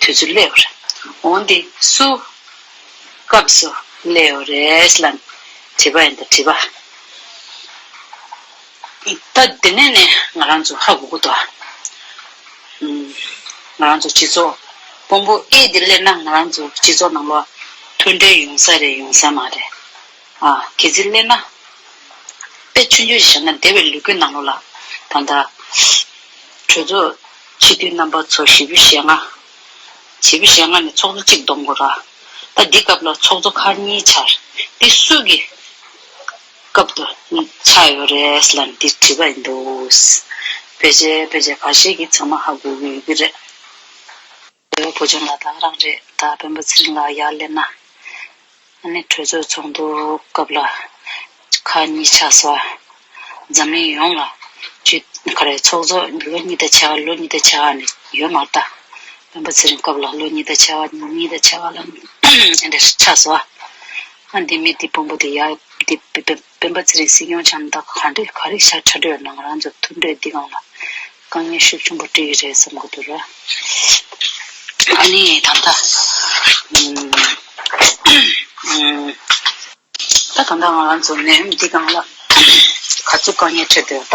དུས་སུ་སླེ་བར་འོང་སྟེ་སུ། སྐབས་སུ་སླེ་བ་རེས་ལ་དྲིས་པ་ཡིན་ད་དྲིས་པ། ད་འདི་ནས་ནི་ང་རང་ཚོ་ཧ་གོ་གོ་ཏོ། ང་རང་ཚོ་སྤྱི་ཚོགས་དཔོན་པོ་ཨེ་འདི་སླེ་ན་ང་རང་ཚོ་སྤྱི་ཚོགས་ནང་ལོ་མཐུན་འབྲེལ་ཡོང་ས་རེད་ཡོང་ས་མ་རེད། གལ་ཚིག་སླེབས་ན། དཔེ་ཆུང་ཆུང་ཞིག་བཞག་ན་བདེ་བའི་ལུས་ཀུན་སྣང་ངོ། ལ་དང་དང། གྲོས་ཚོགས་སྤྱི་འཐུས་རྣམ་པ་ཚོ་བཞི་བོ་ཞེ་ལྔ། བཞི་བོ་ཞེ་ལྔ་ནས་ཚོགས་གཙོ་གཅིག་བསྡོམས་དགོས། ད་འདི་སྐབས་ལ་ཚོགས་གཙོ་ཁག་གཉིས་འཆར། འདི་སུས་ཀྱི་སྐབས་དུ་ཆགས་ཡོད་རེད་ལ་འདི་བྲིས་པ་ཡིན་འདུག། བོད་ཆས་བོད་ཆས་ག་ཤེད་ཀྱི་ཚང་མ་ཧ་གོ་གི་ཡོད་ཀྱི་རེད། དེ་བས་བོད་ལྗོངས་ལ་དྭགས་རང་རེད་ད་སྤེན་པ་ཚེ་རིང་ལགས་ཡར་སླེབས་ན་ཨ་ནེ་གྲོས་ཚོགས་ཚོགས་འདུ་སྐབས་ལ་ཁ་གཉིས་ཆགས་སོ་འཛམ་གླིང་ཡོངས་ལ་བརྗོད་ག་རེ་ཚོགས་ཚོགས་ལོ་གཉིས་ད་ཆ་ལོ་གཉིས་ད་ཆ་ཨ་ནེ་ཡོད་མ་ད་སྤེན་པ་ཚེ་རིང་སྐབས་ལ་ལོ་གཉིས་ད་ཆ་གཉིས་ད་ཆ་ཨ་ནེ་ཆགས་སོ་ཨ་འདི་མི་འདི་དཔོན་པོ་འདི་ཡར་འདི་སྤེན་སྤེན་པ་ཚེ་རིང་སྲིད་སྐྱོང་ཆམ་བདག་ག་འདྲས་ག་རེ་ཤར་ཕྲ་གྲོས་གནང་རང་ཚོ་ཐུགས་འདྲེས་འདི་གང་ལ་དཀའ་ངལ་ཤུགས་ཆུང་པོ་བཀྲི་ཡི་རེད་བསམ་གི་འདུག་ར་ཨ་ནི་ད་ལྟ་ད་ད་ང་རང་ཚོ་ནས་འདི་གང་ལ་ག་ཚོད་དཀའ་ངལ་འཕྲད་འདོད་ད།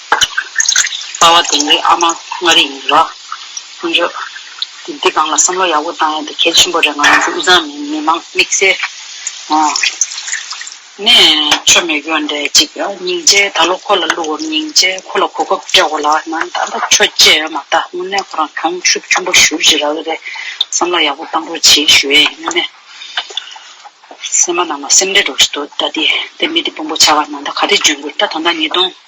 དཔའ་བ་དེང་རིང་ཨ་མ་མངའ་རིས་ཡིན་རོགས། དཀོན་མཆོག་གིས་འདི་གང་ལ་བསམ་བློ་ཡག་པོ་བཏང་ཡོད་འདུག་གལ་ཆེན་པོ་རེད་ང་ཚོ་དབུས་གཙང་མིའི་མི་དམངས་དམིགས་བསལ་ཨོ་ནས་མཆོད་མེ་གཡོ་འདྲེ་གཅིག་སྙིང་རྗེ་ད་ལོ་ཁོ་ལ་བསླུ་བོར་སྙིང་རྗེ་ཁོ་ལ་གོ་སྐབས་སྤྲད་འོ་ལ་ང་ད་ལྟ་ཆོས་བྱེད་ཡོད་མ་ད་དངོས་གནས་ཁོ་རང་གྱོང་ཤུབ་ཆུན་པོ་བཞུར་བཞིན་རག་གི་རེད་བསམ་བློ་ཡག་པོ་བཏང་རོགས་བྱེད་ཞུ་ཨེ་ཡོད་ནས་སེམས་མ་ནང་ལ་སེམས་འདྲེ་འགྲོ་བཞིན་འདུག་ད་དེ་མི་དེ་དཔོན་པོ་ཆགས་ང་ད་ག་རེ་འཇོན་དགོས་ད་ད་ལྟ་ཉིས་སྟོང།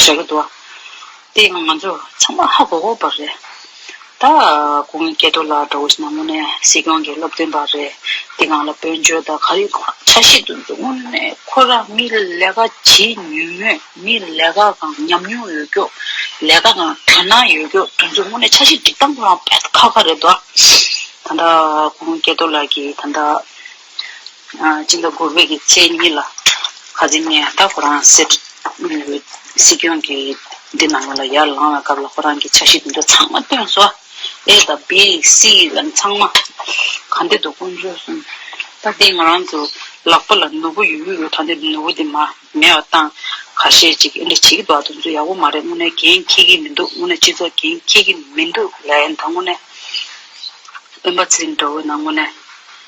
ཞེས་བཀའ་བསྡུ་བ། དེ་ཡང་ང་ཚོ་ཚང་མ་ཧ་གོ་གོ་པ་རེད། ད་གུང་གི་སྐལ་རྡོར་ལགས་འདྲ་བོ་ཞིག་ནང་མོ་ནས་སྲིད་སྐྱོང་གི་སློབ་སྟོན་པ་རེད། དེ་གང་ལ་བོད་འཇོལ་དང་ག་རེ་གང་ཆ་ཤས་དུ་འདུག་དངོས་གནས་ཁོ་རང་མི་ལས་ཀ་བྱེད་ཉུལ་མོད་མི་ལས་ཀ་གང་ཉམས་མྱོང་ཡོད་སྐྱོགས་ལས་ཀ་གང་དོན་སྣང་ཡོད་སྐྱོགས་དོན་ཚུལ་དངོས་གནས་ཆ་ཤས་འགྲིག་སྟངས་ཁོ་རང་ཕལ་ཁ་ཁ་རེད་དོ། ད་གུང་སྐལ་རྡོར་ལགས་ཀྱིས་ད། སྤྱི་ཟླ་དགུ་བའི་ཚེས་གཉིས་ལ་ཁ་ཟི་ནས་ད་ཁོ་རང་སྲིད་སྐྱོང་གི་འདི་ནང་ལ་ཡར་ལངས་བའི་སྐབས་ལ་ཁོ་རང་གི་འཆར་གཞི་དེ་འདྲ་ཚང་མ་བཏོན་སོང་ཨེ་ད་བི་སི་ལན་ཚང་མ་ག་འདི་འདུག་ཀུན་བྱོལ་སོང་ད་འདི་ང་རང་ཚོ་ལག་པ་ལ་ནོར་བུ་ཡོད་ཡོད་ཡོད་ད་འདི་ནོར་བུ་དེ་མ་མེད་བ་སྟངས་ག་ཤེད་ཅིག་འདྲ་བྱེད་ཀྱི་འདུག་ད་དུང་ཚོ་ཡག་པོ་མ་རེད་དངོས་གནས་འགན་འཁྱེར་གྱི་མི་འདུག་དངོས་གནས་སྤྱི་ཚོགས་འགན་འཁྱེར་གྱི་མི་འདུག་ལན་ད་དངོས་གནས་སྤེན་པ་ཚེ་རིང་འདྲ་བོ་ན་དངོས་གནས།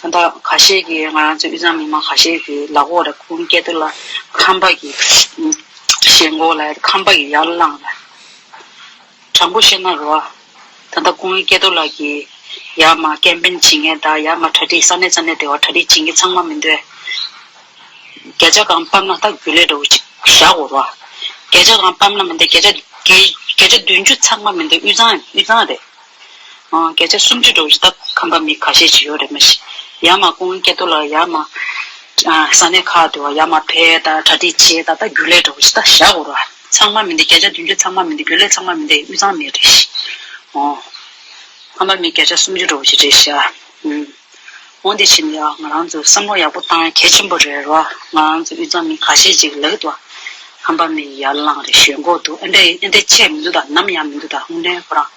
ད་ལྟ་ག་ཤེད་ཀྱི་ང་རང་ཚོའི་དབུས་གཙང་མི་མང་ག་ཤེད་ཀྱི་ལག་འོག་ལ་ཁུང་སྐྱེལ་དུ་ལ་ཁང་པ་གི་ཞེན་མགོ་ལ་ཁང་པ་གི་ཡར་བླངས་ལ། དྲང་པོ་བཤད་ན་རོ་ཨ། ད་ལྟ་ཁུང་སྐྱེལ་དུ་ལ་གི་ཡར་མ་ཀེམ་པེན་བྱེད་མཁན་དང་ཡར་མ་གྲ་སྒྲིག་ས་གནས་ས་གནས་དེ་བ་གྲ་སྒྲིག་བྱེད་མཁན་ཚང་མ་མི་འདོད། བརྒྱ་ཆ་གང་སྤམ་ན་ད་རྒྱུ་ལས་འདྲ་བོ་ཅིག་བཞག་གོ་རོ་ཨ། བརྒྱ་ཆ་གང་སྤམ་ན་མི་འདོད་བརྒྱ་ཆ་བརྒྱ་ཆ་བདུན་ཅུ་ཚང་མ་མི་འདོད་དབུས་གཙང་དབུས་གཙང་རེད། བརྒྱ་ཆ་སུམ་ཅུ་འགྲོ་བཞི་སྟབས་ཁམས་པ་མི་ཁ་ཤས་ཇི་ཡོད་རེད་མ་གཞི། ཡ་མ་ཀུན་སྐྱེ་དུ་ལ་ཡ་མ། ས་གནས་ཁག་ཏུ་ཡ་མ་ཕལ་ད་གྲ་སྒྲིག་བྱེད་ད་ལྟ་རྒྱུ་ལས་འགྲོ་བཞི་སྟ་བཞག་དགོས་ར། ཚང་མ་མི་འདི་བརྒྱ་ཆ་བདུན་ཅུ་ཚང་མ་མི་འདི་རྒྱུ་ལས་ཚང་མ་མི་འདི་དབུས་གཙང་མི་རེད་ཤི། འོང། ཁམས་པ་མི་བརྒྱ་ཆ་སུམ་ཅུ་འགྲོ་བཞི་རེད་ཤི་ཨ། འོང། འོང་འདི་བྱིན་ཡ་ང་རང་ཚོས་བསམ་བློ་ཡག་པོ་གཏང་ཡ་གལ་ཆེན་པོ་རེད་ར་ང་རང་ཚོས་དབུས་གཙང་མི་ཁ་ཤས་ཅིག་ལག་ཏུ་ཨ། ཁམས་པ་མི་ཡར་ལངས་རེད་ཞོད་འགོག་འདུག་ཨ་འདྲ་ཨེ་འདྲ་ཆེ་མི་འདུག་ད་ནམ་ཡང་མི་འདུག་ད་ཧུང་ལན་ཁོ་རང།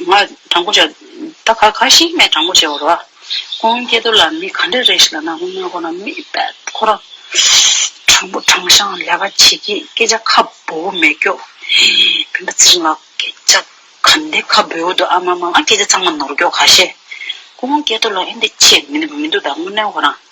ང་དྲང་པོ་བྱ། ད་ག་ག་ཞིག་ངས་དྲང་པོ་བྱས་བ་རེད་བ། ཁོང་སྐྱེ་དུ་ལ་མི་ག་འདྲ་རེད་ཞིག་ལ་ན་ཁོང་མོས་ཁོ་ན་མི་དཔལ་ཁོ་ར། དྲང་པོ་དྲང་བཞག་ལས་ཀ་བྱེད་སྐད་སྐད་ཆ་ཁ་འབོ་བོ་མེད་སྐྱོ། བོན་པོ་ཚེ་རིང་ལགས་སྐད་ཆ་ག་འདི་ཁ་འབོ་བོ་འདུག་ཨ་མ་མ་ང་སྐད་ཆ་ཚང་མ་ནོར་སྐྱོ་ག་ཤེད། ཁོང་སྐྱེ་དུ་ལ་ཨེ་འདི་ཆེད་མི་འདུག་ད་དངོས་གནས་ཁོ་རང།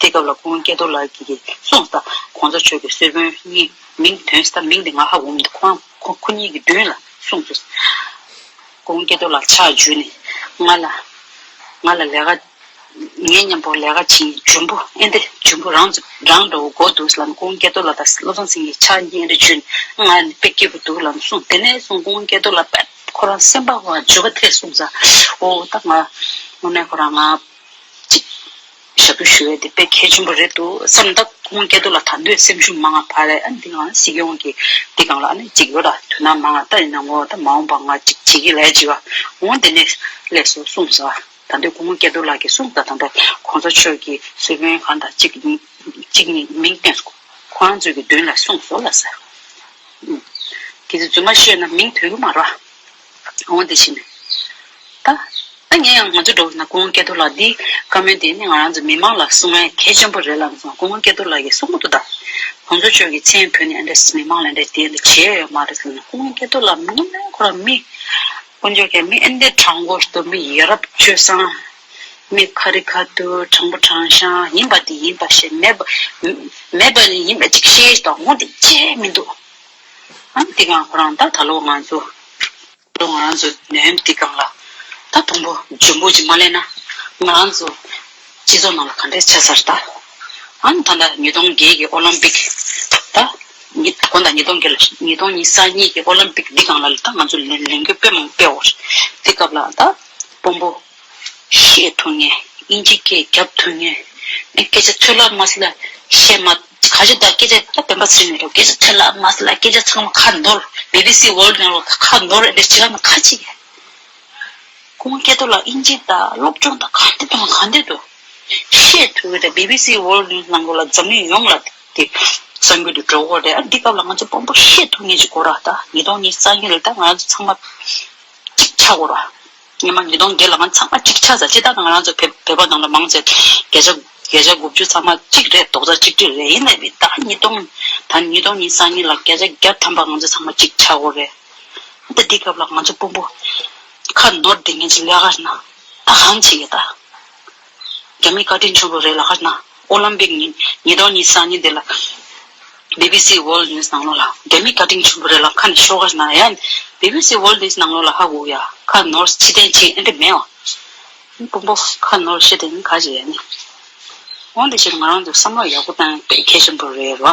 དེ་སྐབས་ལ་ཁོང་སྐལ་རྡོར་ལགས་ཀྱིས་གསུངས་ས ྋགོང་ས་མཆོག་གི་གསེར་བོན་གཉིས་མིང་དོན་ས་མིང་དེ་ང་ཧ་འོམ་དུ་ཁོང་ཁོ་གཉིས་ཀྱི་མདུན་ལ་གསུངས་སོ། ྋགོང་སྐལ་རྡོར་ལགས་ཕྱག་བརྒྱུད་ནས་ང་ལ་ང་ལ་ལས་ཀ་ངའི་སྙམ་པོར་ལས་ཀ་བྱེད་ཡིན་འཇུན་པོ་ཨེ་འདི་འཇུན་པོ་རང་རང་འགྲོ་འགོ་འདུག་ལམ ྋགོང་སྐལ་རྡོར་ལགས་དང་བློ་བཟང་སེང་གེ་ཕྱག་གཉིས་ཨེ་འདྲ་བརྒྱུད་ནས་ང་ནི་དཔེ་སྐྱིད་པོ་འདུག་ལམ་གསུངས་དེ་ནས་བཟུང ྋགོང་སྐལ་རྡོར་ལགས་ཁོ་རང་སེམས་པ་བརྗོད་པ་ཐད་གསུངས་ས་འོ་ད་ང་ངོ་མས་ཁོ་རང་ང་གཅིག། ཞབས་བྲོ་ཞུ་བའི་དེ་དཔེ་གལ་ཆེན་པོ་རེད་འདུག་བསམ་ད་ཁོང་སྐལ་རྡོ་ལ་ད་འདོད་སེམས་ཤུགས་མ་ང་ཕར་ཨ་འདི་ང་སྲིད་སྐྱོང་གི་འདི་གང་ལ་ཨ་ནི་ཅིག་ཡོད་ད་དུས་ན་མ་ང་ད་ཡིན་ན་ངོ་ད་མ་འོངས་པ་ང་ཅིག་བྱེད་ཀྱི་ལས་ཅིག་ཨ་འོང་དེ་ནས་སླད་སོ་གསུངས་ཟེར་བ་ད་འདོད་ཁོང་སྐལ་རྡོ་ལགས་ཀྱི་གསུངས་ད་ད་འདོད་ཁོང་ཚོ་ཆོས་ཀྱི་སྲོལ་རྒྱུན་གང་ད་ཅིག་ཅིག་ནི་མིང་བཏོན་སོང་ཁོ་རང་ཚོས་ཀྱི་མདུན་ལ་གསུངས་ཟོ་ལ་ཟེར་བ་ཨུ། དེ་ཚོས་རྫུན་མ་ཤོད་ན་མིང་དོན་གྱི་མ་རོ་ཨ། གྲོང་བ་དེ་བཞིན་ད། ད་ངས་ཡང་ང་ཚོ་འགྲོ་བ་ན་ཀོང་སྐྱེ་རྡོར་ལགས་འདིས་བཀའ་མོལ་དེ་ནི་ང་རང་ཚོ་མི་མང་ལ་གསུང་ཨེ་གལ་ཆེན་པོ་རེད་ལབ་སོང་ཀོང་སྐྱེ་རྡོར་ལགས་ཀྱིས་གསུང་པོ་ཏོ་ད། ཁོང་ཚོ་ཆོས་ཀྱི་མཚན་ཕུལ་ནས་ཨེ་འདྲ་མི་མང་ལ་ཨེ་འདྲ་དེ་འདྲ་བྱས་ཡོད་མ་རེད་ཟེར་ན་ཀོང་སྐྱེ་རྡོར་ལགས་མི་མང་ཁོ་རང་མི། དཀོན་མཆོག་གིས་མི་ཨེ་འདྲའི་དྲང་པོ་གཏོར་མི་ཡ་རབས་སྤྱོད་བཟང། མི་ཁ་རི་ཁ་ཐུར་དྲང་པོ་དྲང་ཞང་ཡིན་པ་དེ་ཡིན་པ་ཞིག་མེད་པ། མེད་པ་ཡིན་པ་ཅིག་ཤེས་དང་འོང་དེ་ཅི་ཧེ་མི་འདུག། ཨམ་ཏི་ཀང་ཁོ་རང་ད་ད་ལོ་ང་ཚོ། ད་ལོ་ང་རང་ཚོ་ནས་ཨམ་ཏི་ཀང་ལ། ད་དུམ་བུ་འཇོན་པོ་ཅིག་མ་གླས་ན། ང་རང་ཚོ། སྤྱི་ཚོགས་ནང་ལ་ག་འདྲས་ཆ་ཚར་ད། ཨང་ད་ལྟ་ཉིས་སྟོང་བརྒྱད་ཀྱི་ཨོ་ལམ་པིག། ད། ཉིས་དགོན་ད་ཉིས་སྟོང་བརྒྱད་ལ་ཉིས་སྟོང་ཉིས་ས་གཉིས་ཀྱི་ཨོ་ལམ་པིག་འདི་གང་ལ་ལ་ད་ང་ཚོ་ལན་ལན་དགོས་དཔེ་མང་དཔེའོ། དེ་སྐབས་ལ་ད། དཔོན་པོ། བཤད་ཐུབ་ངེས། དབྱིན་ཇི་སྐད་རྒྱབ་ཐུབ་ངེས། ངས་སྐད་ཆ་ཚོད་ལག་མ་སེ་ལ་བཤད་མ། ག་ཞིག་དང་སྐད་ཆ་ད་བེམ་པ་ཟེར་མི་རུང་སྐད་ཆ་ཚོད་ལག་མ་སེ་ལ་སྐད་ཆ་ཚང་མ་ཁ་འདོར། BBC World ནང་ལོགས་ཁ་འདོར་ཨེ་འདོར་བྱེད་ཀ་ན་ཁ་ཅིག། ཁོང་སྐད་དོ་ལ་དབྱིན་ཇི་དང་སློབ་སྦྱོང་དང་ག་འདི་དང་ག་འདི་དུ། བཤད་ཐུབ་ཡོད་ད BBC World News ནང་ལོགས་ལ་འཛམ་གླིང་ཡོངས་ལ་དེ། གསར་འགྱུར་དུ་འགྲོ་འོ་རེད་ཨ་འདི་སྐབས་ལ་ང་ཚོ་དཔོན་པོ་བཤད་ཐུབ་ངེས་ཅིག་གོ་ར་ད་ཉིས་སྟོང་ཉིས་རྩ་གཉིས་རེད་ད་ང་ཚོ་ཚང་མ། གཅིག་ཆགས་གོ་ར། ཉི་མ་ཉིས་སྟོང་བརྒྱད་ལའང་ཚང་མ་གཅིག་ཆ་ས་སྤྱི་བདག་དང་རང་ཚོ་བོད་པ་རྣམས་ལ་མང་ཚེ་བརྒྱད་ཆ་བརྒྱད་ཆ་དགུ་བཅུ་ཚང་མ་གཅིག་རེད་རྡོག་རྩ་གཅིག་སྒྲིལ་རེད་ཡིན་ནའི་ད་ཉིས་སྟོང་ད་ཉིས་སྟོང་ཉིས་སང་ཉིས་ལ་བརྒྱད་ཆ་བརྒྱ་ཐམ་པ་ང་ཚོ་ཚང་མ་གཅིག་ཆ་དགོས་རེད་ད་འདི་སྐབས་ལ་ང་ཚོ་དཔོན་པོ་ཁ་ནོར་འདི་ངན་ཅིག་ལས་ཀ་རེད་ན་ད་གང་བྱེད་ཀྱི་ད། རྒྱ་མིའི་བཀའ་དྲིན་ཆུང་རུ་རེད་ལ་ཧར་ན། ཨོ་ལམ་པིག་ཉིན་ཉེ་རྡོག་གཉིས་སང་ཉིན་དེ་ལ། BBC World News ནང་ལོ་ལ་རྒྱ་མིའི་བཀའ་དྲིན་ཆུང་པོ་རེད་ལ་ཁ་ནས་ཤོར་ཧར་ན་ཡན། BBC World News ནང་ལོ་ལ་ཧ་གོ་ཡ་ཁ་ནོར་ཕྱི་ཐན་ཕྱི་ཨེ་འདྲེ་མེ་ཨོ། སྤུན་པོ་ཁ་ནོར་ཕྱི་ཐན་ཁ་ཇེ་ཡ་ནི། འོན་ཏེ་ཕྱིར་ང་རང་ཚོས་བསམ་བློ་ཡག་པོ་བཏང་ཡང་དཔེ་མཁས་ཆེན་པོ་རེད་རོ།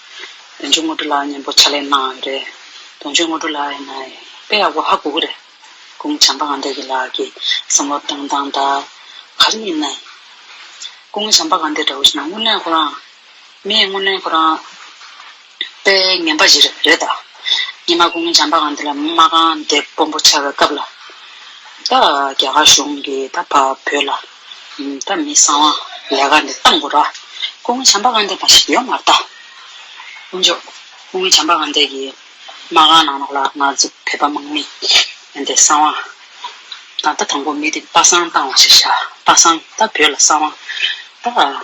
དོན་ཆོས་དངོས་གྲུབ་ལགས་སྙན་པོ་ཕྱག་ལས་གནང་ཡོད་རེད་དོན་ཆོས་དངོས་གྲུབ་ལགས་ཡིན་ན་དཔེ་ཡག་པོ་ཧ་གོ་གི་རེད་ཀུན་བྱམས་པ་ང་འདྲ་གི་ལགས་ཀྱི་བསམ་བློ་བཏང་སྟངས་དག་ག་རེ་ཡིན་ནའི། ཀུན་བྱམས་པ་ང་འདྲ་བོ་ཞིག་ན་དངོས་གནས་ཁོ་རང་མི་ཡིན་དངོས་གནས་ཁོ་རང་དཔེ་ངན་པ་ཞིག་རེད་རེད་ད། ཉི་མ་ཀུན་བྱམས་པ་ང་འདི་ལ་མ་རྐང་འདེབས་དཔོན་པོ་ཆགས་པའི་སྐབས་ལ་ད་རྒྱ་གར་གཞུང་གིས་ད་བོད་ལ། བདག་མི་གསང་བ་ལས་ཀ་འདི་ལྟ་མགོ་ར། སྐུ་ངོ་བྱམས་པ་དགའ་འདས་པ་ཞིག་ཡོད་མ་རྟ། དཀོན་མཆོག་སྐུ་ངོ་བྱམས་པ་དགའ་འདས་ཀྱིས་མ་གང་ནང་ལོག་ལ་ང་ཚོ་བོད་པ་དམག་མི་ཡོན་ཏན་གསང་བ། ད་ལྟ་དང་པོ་མི་དེ་པ་སངས་བཏང་བ་ཞིག་བཞག་པ་སངས་ད་བོད་ལ་གསང་བ། ད།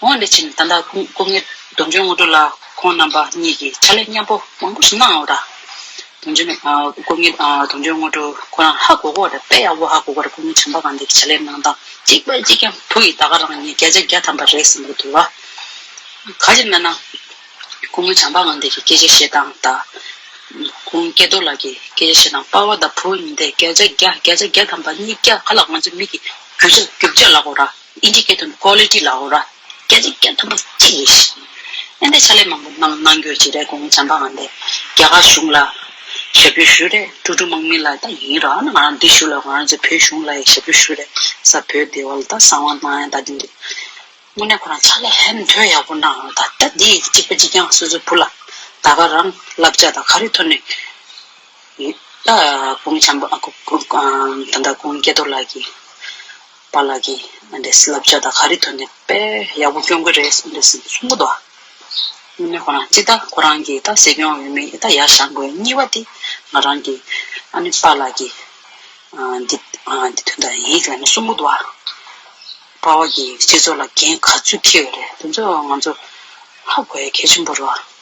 ངོ་ནས་ཅིང་ད་ལྟ་སྐུ་ངལ་སྡོམ་བྱོན་སྔོན་འགྲོ་ལ་ཁོང་རྣམ་པ་གཉིས་ཀྱིས་ཕྱག་ལས་མཉམ་པོ་མང་པོ་ཞིག་གནང་བ་དང། སྐུ་ངལ་སྡོམ་བྱོན་སྔོན་འགྲོ་ཁོ་རང་ཧ་གོ་གོ་དང་དཔལ་ཡག་པོ་ཧ་གོ་གོར་སྐུ་ངལ་བྱམས་པ་གང་དེ་ཕྱག་ལས་གནང་སྟངས་གཅིག་པ་གཅིག་ཀྱང་བུ་ཡིས་ད་ག་རང་ཉིད་བརྒྱ་ཆ་བརྒྱ་ཐམ་པ་རེད་བསམ་གྱི་འདུག་ག་གཞིར་སྨྲས་ན། སྐུ་ངལ་བྱམས་པ་གང་དེ་གི་སྐད་ཆ་བཤད་སྟངས་དང། ཁོང་སྐལ་རྡོར་ལགས་ཀྱི་སྐད་ཆ་བཤད་སྟངས་དཔའ་བོ་དང་བུ་གཉིས་དེ་བརྒྱ་ཆ་བརྒྱ་བརྒྱ་ཆ་བརྒྱ་ཐམ་པ་གཉིས་བརྒྱ་ག་ལ་ང་ཚོའི་མིག་གི་རྒྱུ་ཆ་ལགས་འོ་ར། Indicator ནི Quality ལ་འོ་ར། སྐད་ཅིག་སྐད་མཐོན་པོ་གཅིག་རེད། བསྟན་པའི་ཕྱག་ལས་མང་པོ་གནང་གནང་རྒྱུར་བྱས་རེད་གོང་བྱམས་པ་ང་འདས་རྒྱ་གར་གཞུང་ལ་ཞབས་ཞུ་ཞུ་རེད་ཀྲུག་ཀྲུག་དམག་མི་ལ་ད་ཡིན་རང་ང་རང་འདི་བཞུགས་ལ་ང་རང་ཚོའི་བོད་གཞུང་ལ་ཡི་ཞབས་ཞུ་ཞུ་རེད་ས་བོད་སྡེ་བ་ལ་ད་བསམ་དབང་གནང་ཡང་ད་འདི་འདྲ་དངོས་གནས་ཁོ་རང་ཕྱག་ལས་ཧེ་མཐོན་ཡག་པོ་གནང་རང་ད་ད་འདི་ཡི་གཅིག་པ་གཅིག་རྐྱང་སོ་སོའི་བུ་ལ་ད་ག་རང་བསླབ་བྱ་ད་ག་རེ་ཐོན་ནས་ཡོད་ད་གོང་བྱམས་པ་ད་ལྟ་གོང་སྐལ་རྡོར་ལགས་ཀྱིས། པཱ་ལགས་ཀྱིས། མ་འདས་བསླབ་བྱ་དང་ག་རེ་ཐོན་ནས་དཔེ་ཡག་པོ་སྐྱོང་གི་རེད་མ་འདས་ཟིན་གསུང་གི་འདུག་ཨ། ནི་ཁོ་རང་གཅིག་ད་ཁོ་རང་གིས་ད་སྲིད་སྐྱོང་ཡོད་མེད་ད་ཡར་བཞག་དགོས་གཉིས་པ་དེ་ང་རང་གིས། ཨ་ནི་པཱ་ལགས་ཀྱིས། འདི་འདི་དོན་དག་ཡིན་ལ་ནི་གསུང་གི་འདུག་ཨ། པཱ་ལགས་ཀྱིས་སྤྱི་ཚོགས་ལ་འགན་ག་ཚོད་འཁྱེར་ཡོད་རེད་དེ་ཚོ་ང་ཚོ་ཧ་གོ་ཡ་གལ་ཆེན་པོ་རེད།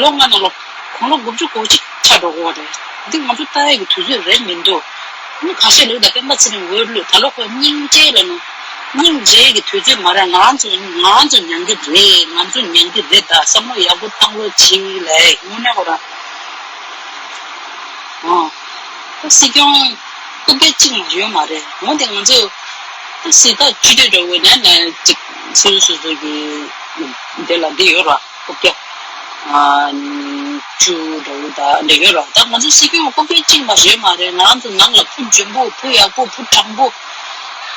ལོ་ལྔ་ན་ལོ། གོང་ལོ་དགུ་བཅུ་གོ་གཅིག་ཆ་འགྲོ་གོ་རེད། འདི་ང་ཚོ་ཏཱའི་གི་དུས་ཚོད་རེད་མི་འདུག། མི་ཁ་ཤས་ལུག་དང་སྤེན་པ་ཚེ་རིང་འོས་བླུག་ད་ལོ་ཁོ་སྙིང་རྗེའི་ལ་ནོ། སྙིང་རྗེའི་གི་དུས་ཚོད་མ་རེད་ང་ཚོ་ང་ཚོ་མྱང་གི་རེད་ང་ཚོ་མྱང་གི་རེད་ད་བསམ་བློ་ཡག་པོ་བཏང་རོགས་གྱིས་ལེ་དངོས་གནས་ཁོ་རང་ཨང། ཏཱ་སྲིད་སྐྱོང་སྐུ་སྒེར་གཅིག་མ་ཡོད་མ་རེད་འོན་ཏེ་ང་ཚོ་ཏཱ་སྲིད་ད་བཅུ་བདུན་འགྲོ་གོ་ནས་ནས་གཅིག་སུ་སུ་སུ་གི་དེ་ལ་འདི་ཡོད་ར། སྐུ་སྒེར། བཅུ། འབྲེལ་ཡོད་རོགས་ཟླ་ང་ཚོ་སྲིད་སྐྱོང་སྐུ་སྒེར་གཅིག་མ་རེད་མ་རེད་ནང་དུ་ནང་ལ་བུ་འཇོན་པོ་བུ་ཡག་པོ་བུ་དྲང་པོ། བུ་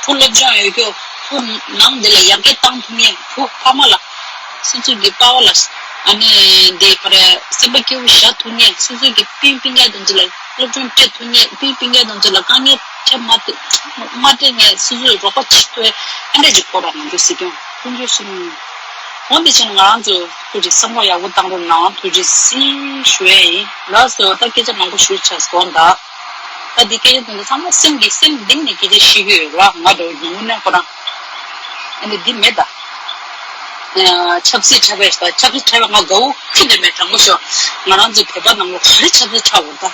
སློབ་སྦྱོང་ཡོད་རྒྱུ་བུ་ནང་འདི་ལ་ཡར་རྒྱས་གཏང་ཐུབ་ངེས་བུ་ཕ་མ་ལ། སི་ཚུགས་ཀྱི་དཔའ་བོ་ལ། ཨནི་འདི་ཕ་རེ་སེམས་པ་སྐྱིད་བོ་བཞག་ཐུབ་ངེས་སི་ཚུགས་ཀྱི་སྤུན་སྤུན་ག་དང་འདི་ལ་སློབ་སྦྱོང་སྤྲད་ཐུབ་ངེས་སྤུན་སྤུན་ག་དང་འདི་ལ་དཀའ་ངལ་ཕྲད་མ་སྤྲད་ངེས་སི་ཚུགས་རོགས་པ་ཆེ་མཐོའི་ཨ་འབྲས་ཀྱི་སྐོར་ལ་ང་ཚོ་སྲིད་སྐྱོང་དཔུང་འཇོན་གསུམ། ཨོ་དེ་བཞིན་ང་རང་ཚོ་ཁུལ་གྱི་བསམ་བློ་ཡག་པོ་བཏང་རུང་ནང་དུ་ཇི་སྲིད་ཞུ་ཡ་ཡིན་ལ་སོ་ལྟ་སྐད་ཆ་མང་པོ་ཞུ་ཆགས་སོང་ད། ད་འདི་སྐད་ཆ་དེ་འདྲ་ཚང་མ་སེམས་ཀྱི་སེམས་གཏིང་ནས་སྐད་ཆ་བཤད་ཀྱི་ཡོད་ལ་ང་དོ་སྣང་མི་གནས་ཁོ་རང། ཨ་ནི་འདི་མེད་ད། ཆབ་སྲིད་ཁྲལ་བས་ད་ཆབ་སྲིད་ཁྲལ་བས་ང་དགའ་བོ་ཁྱི་དེ་མེད་དྲང་པོ་ཤོག་ང་རང་ཚོའི་བོད་པ་རྣམས་ལ་ག་རེ་ཆབ་སྲིད་ཁྲལ་འོང་ད།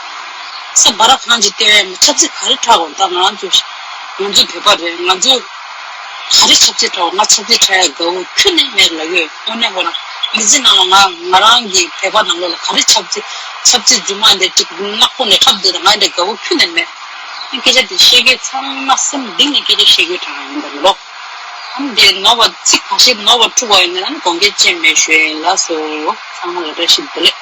ས་བ་ར་གང་ཅིག་སྟེ་ཆབ་སྲིད་ག་རེ་ཁྲལ་འོང་ད་ང་རང་ཚོའི་ང་ཚོའི་བོད་པ་རེད་ང་ཚོའི། ག་རེ་ཆབ་རྩེད་གྲོགས་ང་ཆབ་རྩེད་བྲལ་དགའ་བོ་ཁྱོད་ནི་མེད་ལ་ཡོད་དངོས་གནས་མགོ་རང་མི་འཛིན་ནང་ལ་ང་ང་རང་གི་བད་པ་ནང་ལོག་ལ་ག་རེ་ཆབ་རྩེད་ཆབ་རྩེད་རྫུན་མ་འདི་གཅིག་ནག་པོ་ནས་འཁྲབ་འདོད་ད་ང་འདྲ་དགའ་བོ་ཁྱོད་ནི་མེད། ཨང་སྐད་ཆ་འདི་བཤད་མཁན་ཚང་མ་སེམས་གཏིང་ནས་སྐད་ཆ་བཤད་མཁན་གྲངས་ཡིན་པ་མི་ལོག་ཨང་དེ་ནོར་བ་ཚིག་གང་ཞིག་ནོར་བ་འཁྲུག་བ་ཡིན་ན་ཡང་དགོངས་སྐད་ཅན་མེད་ཞོལ་ལགས་སོ་ཚང་མ་ལ་བཀྲ་ཤིས་བདེ་ལེགས།